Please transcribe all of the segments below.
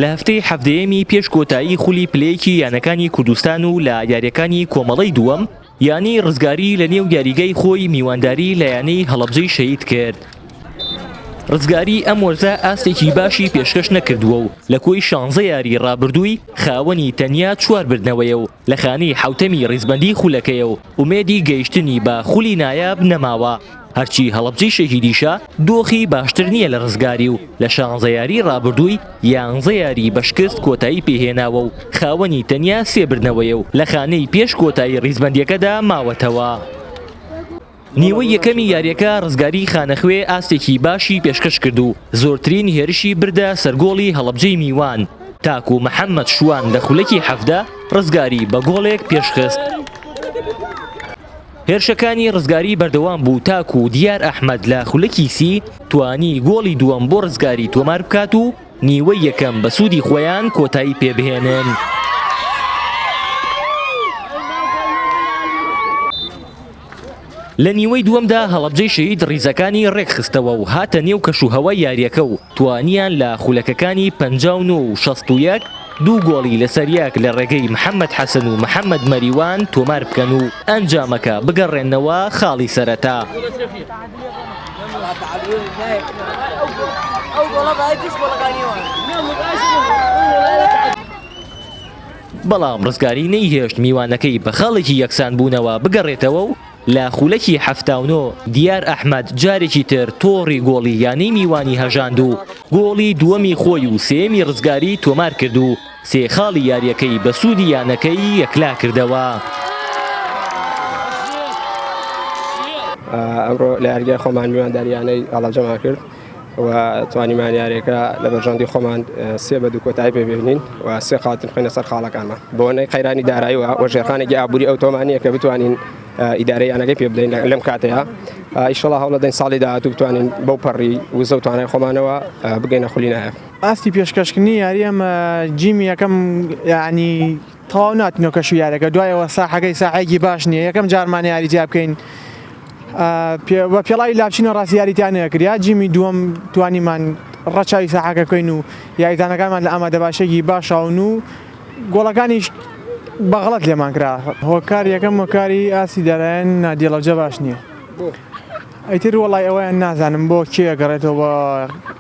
لە هەفتەی حەڤدەیەمی پێش کۆتایی خولی پلەیەکی یانەکانی کوردستان و لە یاریەکانی کۆمەڵەی دووەم یانی ڕزگاری لە نێو یاریگای خۆی میوانداری لە یانەی هەڵەبجەی شەید کرد ڕزگاری ئەم وەرزە ئاستێکی باشی پێشکەش نەکردووە و لە کۆی شانزە یاری ڕابردووی خاوەنی تەنیا چوار بردنەوەیە و لە خانی حوتەمی ڕیزبەندی خولەکەیە و ئومێدی گەیشتنی بە خولی نایاب نەماوە، هەرچی هەڵەبجەی شەهیدیشە دۆخی باشتر نییە لە رزگاری و لە شانزە یاریی رابردووی یانزە یاریی بە شکست کۆتایی پێهێناوە و خاوەنی تەنیا سێ بردنەوەیە و لە خانەی پێش کۆتایی ریزبەندییەکەدا ماوەتەوە. نیوەی یەکەمی یارییەکە رزگاری خانەخوێ ئاستێکی باشی پێشکەشکرد و زۆرترین هێرشی بردە سەر گۆڵی هەڵەبجەی میوان تاکو محەمەد شوان لە خولەکی حەڤدە ڕزگاری بە گۆڵێک پێشخست. هێرشەکانی ڕزگاری بەردەوام بوو تاکو و دیار ئەحمد لە خولەکی سی توانی گۆڵی دووەم بۆ ڕزگاری تۆمار بکات و نیوەی یەکەم بە سوودی خۆیان کۆتایی پێبهێنن. لە نیوەی دووەمدا هەڵەبجەی شەهید ڕیزەکانی ڕێکخستەوە و هاتە نێو کەش و هەوای یارییەکە و توانیان لە خولەکەکانی پەنجا و نۆ و شەست و یەک دوو گۆڵی لەسەریەک لە ڕێگەی محەمەد حەسەن و محەمەد مەریوان تۆمار بکەن و ئەنجامەکە بگەڕێننەوە خاڵی سەرەتا. بەڵام ڕزگاری نەیهێشت میوانەکەی بە خاڵێکی یەکسان بوونەوە بگەڕێتەوە و لە خولەکی حەفتا و نۆ دیار ئەحمەد جارێکی تر تۆڕی گۆڵی یانەی میوانی هەژاند و گۆڵی دووەمی خۆی و سێیەمی ڕزگاری تۆمار کرد و سێ خاڵی یارییەکەی بە سوودی یانەکەی یەکلا کردەوە. ئەمڕۆ لە یاریگای خۆمان میوانداری یانەی ئاڵاجەمان کرد و توانیمان یاریەکە لە بەرژەندی خۆمان سێ بە دوو کۆتایی پێبێنین و سێ خاتن خوێنە سەر خاڵەکانمان بۆنەی قەیرانی دارایی و وەژێرخانێکی ئابووری ئەو تۆمانە کە بتوانین ئیدارەی یانەکەی پێ بدەین لەم کاتەیە ئیشڵا هەوڵە دەین ساڵی داهاتوو بتوانین بەو پەڕی وزە و توانای خۆمانەوە بگەینە خولی نایە ئاستی پێشکەشکردنی یاری ئەمە جیمی یەکەم ینی تەواو ناتنەوە کەش و یارەکە دوای ئەوە ساحەکەی ساحەیەکی باش نییە یەکەم جارمان یاری تیا بکەین بە پێڵاوی لاچینە ڕاستی یاریتیان نەکریا جیمی دووەم توانیمان ڕەچوی ساحەکە بکەین و یاریزانەکانمان لە ئامادە باشێکی باشاون و گۆڵەکانیش بەغڵەت لێمان کرا هۆکار یەکەم هۆکاری ئاستی دارایەن نادیڵەجە باش نییە. ئیتر وەڵای ئەوەیان نازانم بۆ کێ ئەگەڕێتەوە بە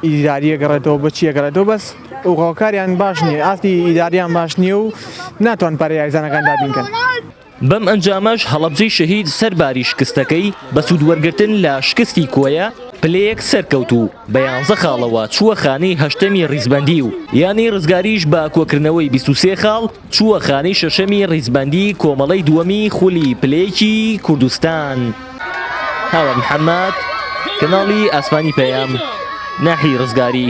ئیداری ئەگەڕێتەوە بە چی ئەگەڕێتەوە بەس هۆکاریان باش نییە ئاستی ئیداریان باش نییە و ناتوان پەرە یاریزانەکان دابین کەن. بەم ئەنجامەش هەڵەبجەی شەهید سەر باری شکستەکەی بە سوود وەرگرتن لە شکستی کۆیە پلەیەک سەرکەوت و بە یانزە خاڵەوە چووە خانەی هەشتەمی ریزبەندی و یانەی رزگاریش بە کۆکردنەوەی بیست و سێ خاڵ چووە خانەی شەشەمی ڕیزبەندی کۆمەڵەی دووەمی خولی پلەیەکی کوردستان. هاوار محەممەد، کەناڵی ئاسمانی پەیام، ناحیەی ڕزگاری.